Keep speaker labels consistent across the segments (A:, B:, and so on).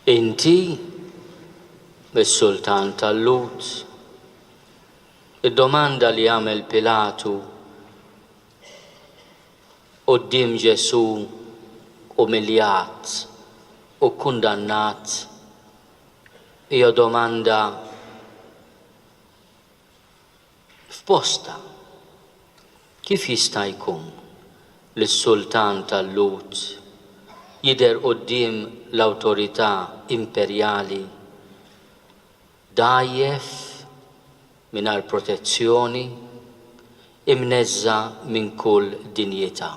A: Inti, is-sultan tal-Lhud? Id-domanda li għamel Pilatu Quddiem Ġesù umiljat u kkundannat, hija domanda f'postha. Kif jista' jkun li s-sultan tal-Lhud jidher quddiem l-awtorità imperjali dgħajjef, mingħajr protezzjoni, imneżża' minn kull dinjità.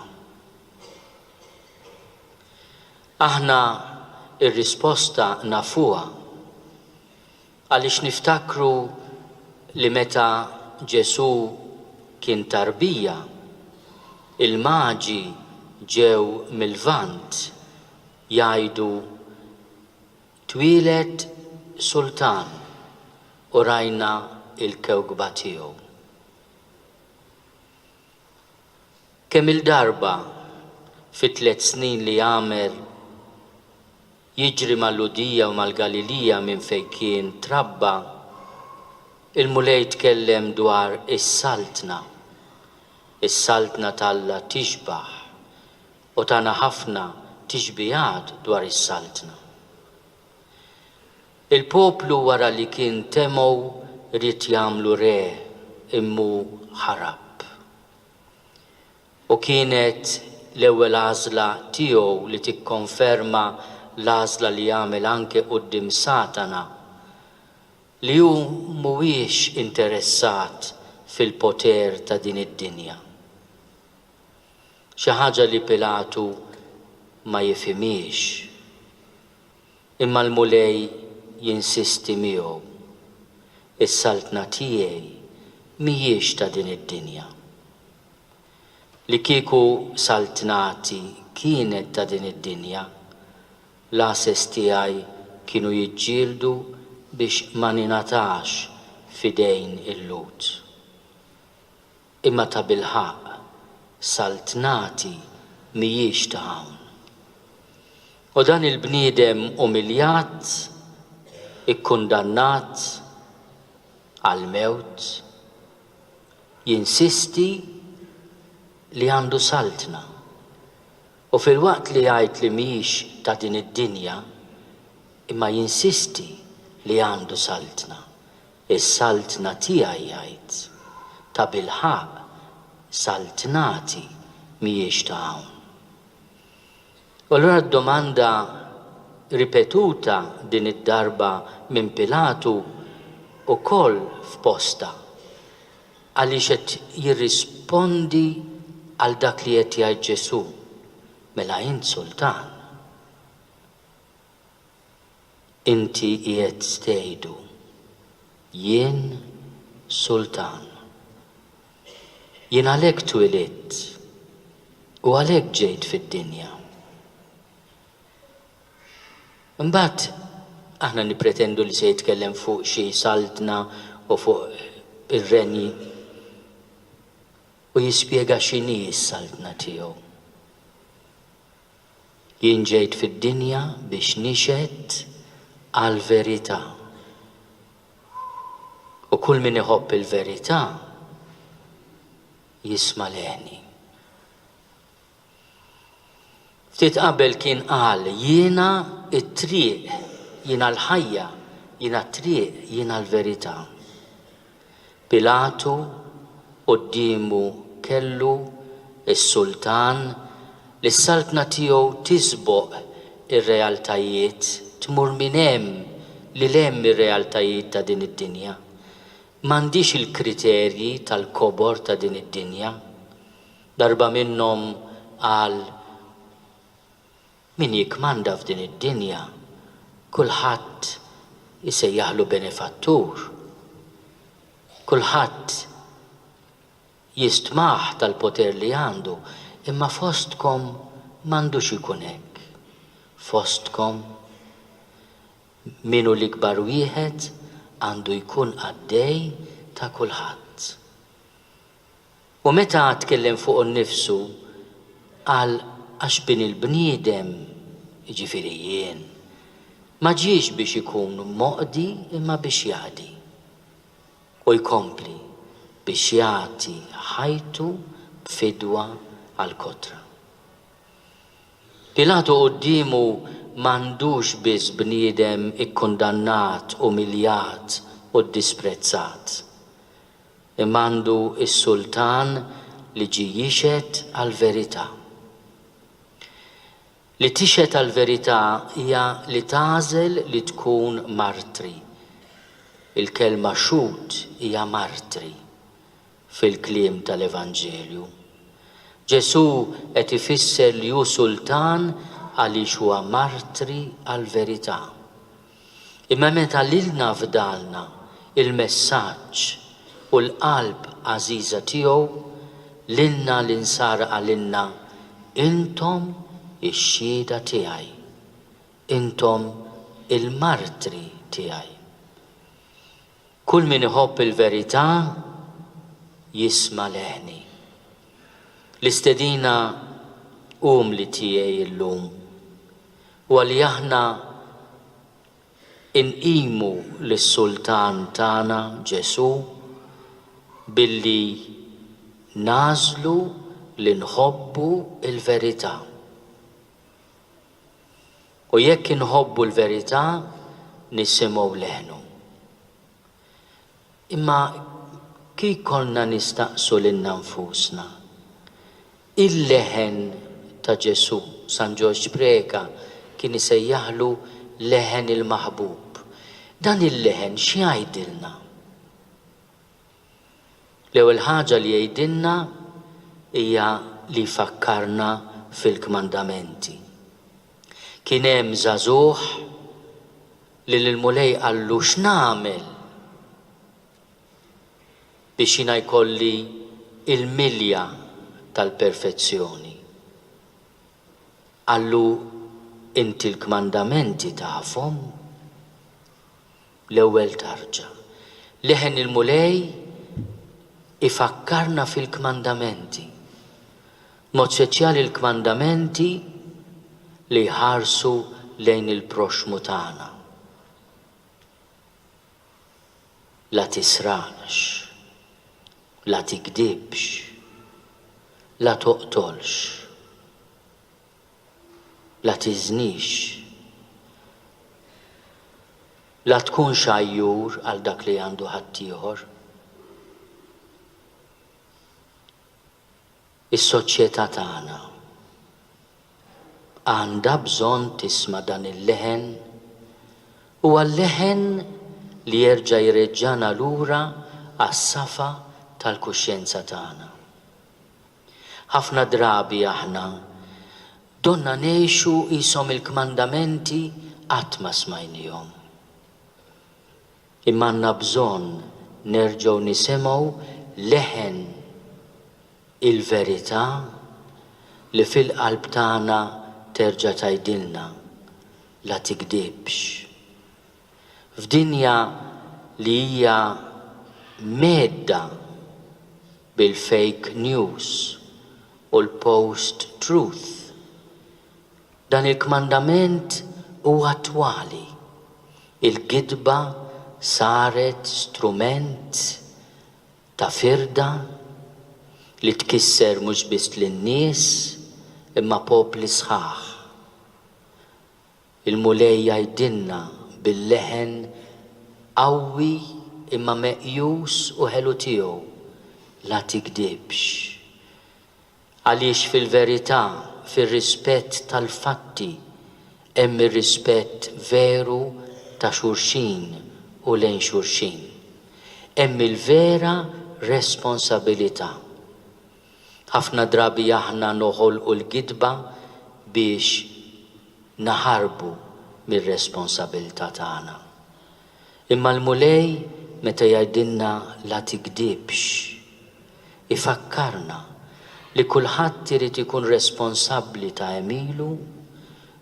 A: Aħna r-risposta nafuha għaliex niftakru li meta Ġesù kien tarbija, il-Maġi ġew mil-Lvant jgħidu, Twieled sultan u rajna l-kewkba tiegħu. Kemm-il darba fit-tliet snin li għamel jiġri mal-Lhudija u mal-Galilija minn fejn kien trabba, il-Mulej tkellem dwar is-Saltna. Is-Saltna t'Alla tixbah U tana ħafna tixbihat dwar is-Saltna. Il-poplu wara li kien temgħu ried jagħmlu re immu ħarab. U kienet l-ewwel għażla tiegħu li tikkonferma l-għażla li għamel anke quddiem Satana, li hu mhuwiex interessat fil-poter ta' din id-dinja. xi ħaġa li Pilatu ma jifhimhiex. Imma l-Mulej jinsisti miegħu, Is-saltna tiegħi mhijiex ta' din id-dinja. Li kieku saltnati kienet ta' din id-dinja, l-għases tiegħi kienu jiġġieldu biex ma ningħatax f'idejn il-Lhud. Imma tabilħaqq, Saltnati mhijiex ta' hawn. U dan il-bniedem umiljat, ikkundannat għall-mewt, jinsisti li għandu Saltna. U filwaqt li jgħid li mhijiex ta' din id-dinja, imma jinsisti li għandu Saltna. Is-Saltna tiegħi jgħid, Tabilħaqq saltnati mhijiex ta' hawn. U allura d-domanda ripetuta din id-darba minn Pilatu wkoll f'postha, għaliex qed jirrispondi għal dak li qed jgħid Ġesù, mela int sultan. Inti qiegħed tgħidu, Jien sultan. Jien għalhekk twilidt u għalhekk ġejt fid-dinja. Imbagħad aħna nippretendu li se jitkellem fuq xi saltna u fuq ir-renji u jispjega x'inhi s-saltna tiegħu. Jien ġejt fid-dinja biex nixhed għall-verità. U kull min iħobb il-verità jisma' leħni. Ftit qabel kien qal, Jiena t-triq, jiena l-ħajja, jiena t-triq, jiena l-verità. Pilatu quddiemu kellu s-sultan li s-saltna tiegħu tisboq ir-realtajiet, tmur minn hemm lil hemm ir-realtajiet ta' din id-dinja. M'għandhiex il-kriterji tal-kobor ta' din id-dinja. Darba minnhom qal, Min jikkmanda f'din id-dinja, kulħadd isejjaħlu benefattur. Kulħadd jistmah tal-poter li għandu, imma fostkom m'għandux ikun hekk. Fostkom, min hu l-ikbar wieħed għandu jkun qaddej ta' kulħadd. U meta tkellem fuqu nnifsu, qal, Għax Bini l-bniedem, jiġifieri jien, ma ġiex biex ikun moqdi imma biex jaqdi. U jkompli, Biex jagħti ħajtu b'fidwa għall-kotra. Pilatu quddiemu m'għandux biss bniedem ikkundannat, umiljat u ddisprezzat. Imma għandu s-sultan li ġie jixhed għall-verità. Li tixhed għall-verità hija li tagħżel li tkun martri. Il-kelma xhud hija martri, fil-kliem tal-Evanġelju. Ġesù qed ifisser li hu sultan għaliex huwa martri għall-verità. Imma meta lilna fdalna l-messaġġ u l-qalb għażiża tiegħu, lilna l-insara qalilna, Intom ix-xhieda tiegħi. Intom il-martri tiegħi. Kull min iħobb il-verità jisma' leħni. L-istedina umli tiegħi llum huwa li aħna nqimu lis-Sultan tagħna Ġesù billi nagħżlu li nħobbu l-verità. U jekk inħobbu l-verità, nisimgħu leħnu. Imma kif konna nistaqsu lilna nfusna, Il-leħen ta' Ġesù, San Ġorġ Preca kien isejjaħlu leħen il-maħbub. Dan il-leħen x'jgħidilna? L-ewwel ħaġa li jgħidilna hija li jfakkarna fil-kmandamenti. Kien hemm żagħżugħ li l-Mulej qallu x'nagħmel biex jiena jkolli l-milja tal-perfezzjoni. Qallu, Inti l-kmandamenti tafhom? L-ewwel tarġa. Leħen il-Mulej ifakkarna fil-kmandamenti. B'mod speċjali l-kmandamenti li jħarsu lejn il-proxxmu tagħna. La tisraqx. La tigdibx. La toqtolx. La tiżnix. La tkunx għajjur għal dak li għandu ħaddieħor. Is-soċjetà tagħna għandha bżonn tisma' dan il-leħen, huwa l-leħen li jerġa' jreġġagħna lura għas-safa tal-kuxjenza tagħna. Ħafna drabi aħna donna ngħixu qishom il-kmandamenti qatt ma smajniehom. Imma għandna bżonn nerġgħu nisimgħu leħen il-verità li fil-qalb tagħna terġa' tgħidilna, La tigdibx. F'dinja li hija mhedda bil-fake news u l-post truth, dan il-kmandament hu attwali. Il-gidba saret strument ta' firda li tkisser mhux biss lin-nies imma popli sħaħ. Il-Mulej jgħidilna bil-leħen qawwi imma meqjus u ħelu tiegħu, La tigdibx. Għaliex fil-verità, fir-rispett tal-fatti, hemm ir-rispett veru ta' xulxin u lejn xulxin. Hemm il-vera responsabilità. Ħafna drabi aħna noħolqu l-gidba biex naħarbu mir-responsabilità tagħna. Imma l-Mulej meta jgħidilna la tigdibx, ifakkarna li kulħadd irid ikun responsabbli ta' għemilu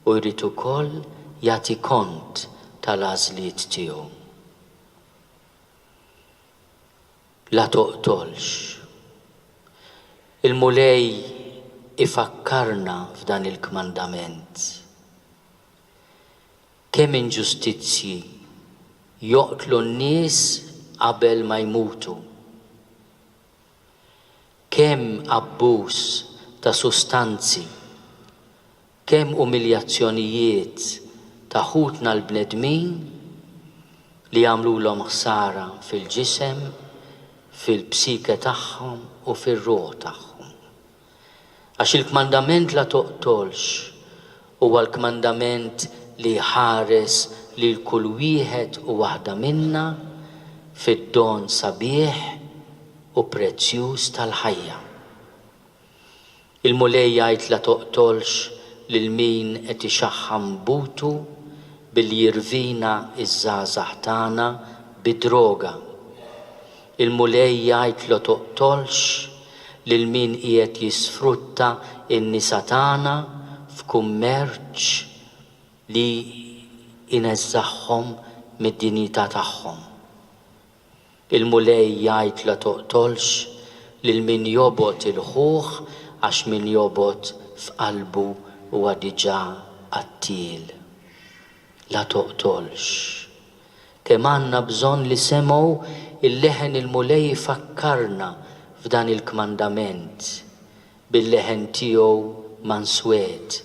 A: u jrid ukoll jagħti kont tal-għażliet tiegħu. La toqtolx. Il-Mulej ifakkarna f'dan il-kmandament. Kemm inġustizzji joqtlu n-nies qabel ma jmutu. Kemm abbuż ta' sustanzi Kemm umiljazzjonijiet ta' ħutna l-bnedmin li jagħmlulhom ħsara fil-ġisem, fil-psike tagħhom u fir-ruħ tagħhom. Għax il-kmandament la toqtolx huwa l-kmandament li jħares lil kull wieħed u waħda minna fid-don sabiħ u prezzjuż tal-ħajja. Il-Mulej jgħid la toqtolx lil min qed ixaħħam butu billi jirvina ż-żgħażagħ tagħna bid-droga. Il-Mulej jgħid la toqtolx lil min qiegħed jisfrutta n-nisa tagħna f'kummerċ li jneżżagħhom mid-dinjità tagħhom. Il-Mulej jgħid la toqtolx lil min jobgħod 'il ħuh għax min jobgħod f'qalbu huwa diġà qattiel. La toqtolx. Kemm għandna bżonn li semgħu l-leħen il-Mulej ifakkarna f'dan il-kmandament Bil-leħen tiegħu manswed,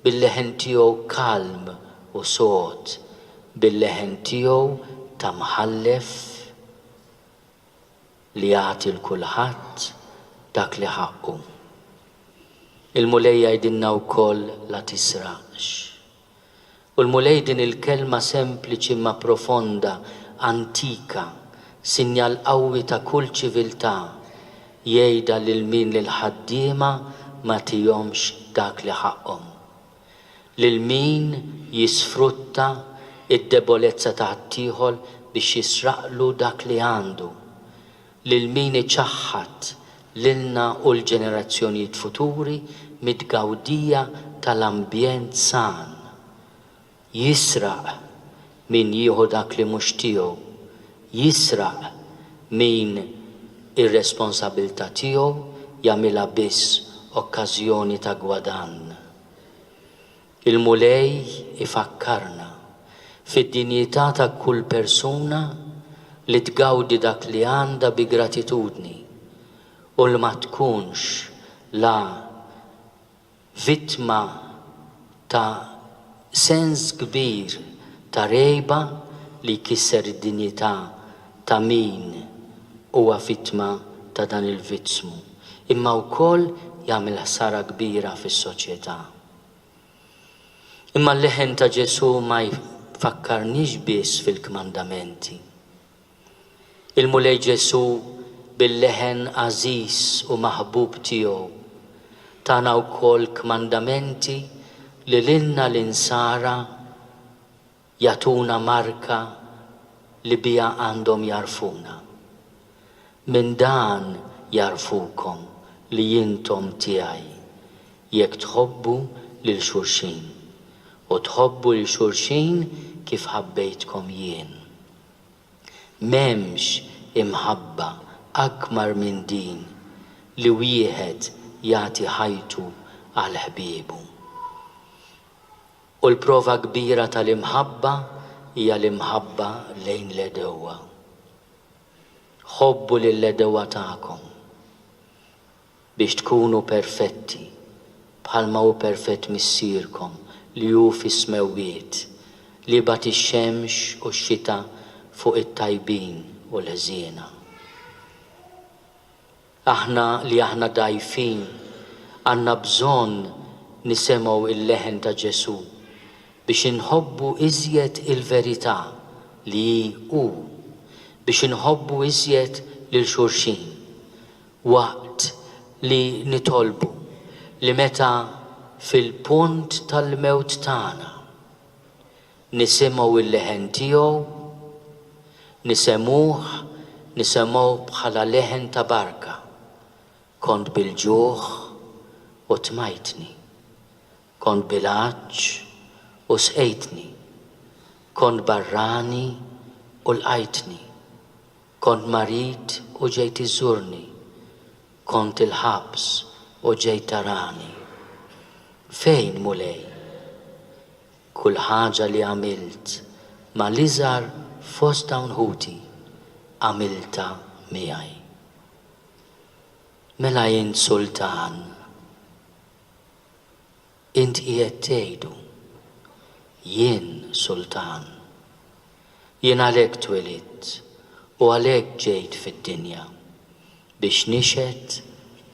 A: bil-leħen tiegħu kalm u sod, bil-leħen tiegħu ta' mħallef li jagħti 'l kulħadd dak li ħaqqu. Il-Mulej jgħidilna wkoll la tisraqx. U l-Mulej din il-kelma sempliċi imma profonda, antika, sinjal qawwi ta' kull ċiviltà, jgħidha lil min lill-ħaddiema ma tihomx dak li ħaqqhom. Lil min jisfrutta d-debolezza ta' ħaddieħor biex jisraqlu dak li għandu. lil min iċaħħad lilna u l-ġenerazzjonijiet futuri mit-tgawdija tal-ambjent san. Jisraq min jieħu dak li mhux tiegħu, jisraq min ir-responsabilità tiegħu jagħmilha biss okkażjoni ta' gwadann. Il-Mulej ifakkarna fid-dinjità ta' kull persuna li tgawdi dak li għandha bi gratitudni u li ma tkunx la vittma ta' sens kbir ta' rgħiba li jkisser id-dinjità ta' min huwa vittma ta' dan il-vizzmu, imma wkoll jagħmel ħsara kbira fis-soċjetà. Imma l-leħen ta' Ġesù ma jfakkarniex biss fil-kmandamenti. Il-Mulej Ġesù, bil-leħen għażiż u maħbub tiegħu, tana wkoll kmandamenti li lilna l-Insara Jagħtuna marka li biha għandhom jagħrfuna. Minn dan jagħrfukom li intom tiegħi, jekk tħobbu lil xulxin, u tħobbu lil xulxin kif ħabbejtkom jien. M'hemmx imħabba akbar minn din li wieħed jagħti ħajtu għal ħbiebu. U l-prova kbira tal-imħabba hija l-imħabba lejn l-għedewwa. Ħobbu lill-għedewwa tagħkom, biex tkunu perfetti, bħalma hu perfett Missierkom li hu fis-smewwiet, li jibgħat ix-xemx u x-xita fuq it-tajbin u l-ħżiena. Aħna li aħna dgħajfin għandna bżonn nisemgħu il-leħen ta' Ġesù biex inħobbu iżjed il-verità li hi hu, biex inħobbu iżjed lil xulxin. Waqt li nitolbu li meta fil-punt tal-mewt tagħna, Nisimgħu l-leħen tiegħu, nisemgħuh, nisemgħuh bħala leħen ta' barka. Kont bil-ġuħ u tmajtni. Kont bil-għatx u sqejtni. Kont barrani u lqajtni. Kont marid u ġejt iżżurni. Kont il-ħabs u ġejt tarani. Fejn, Mulej? Kull ħaġa li għamilt ma' l-iżgħar fost dawn ħuti, għamiltha miegħi. Mela int sultan, int qiegħed tgħidu, Jien sultan. Jien għalhekk twelidt u għalhekk ġejt fid-dinja, biex nixhed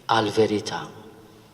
A: għall-verità.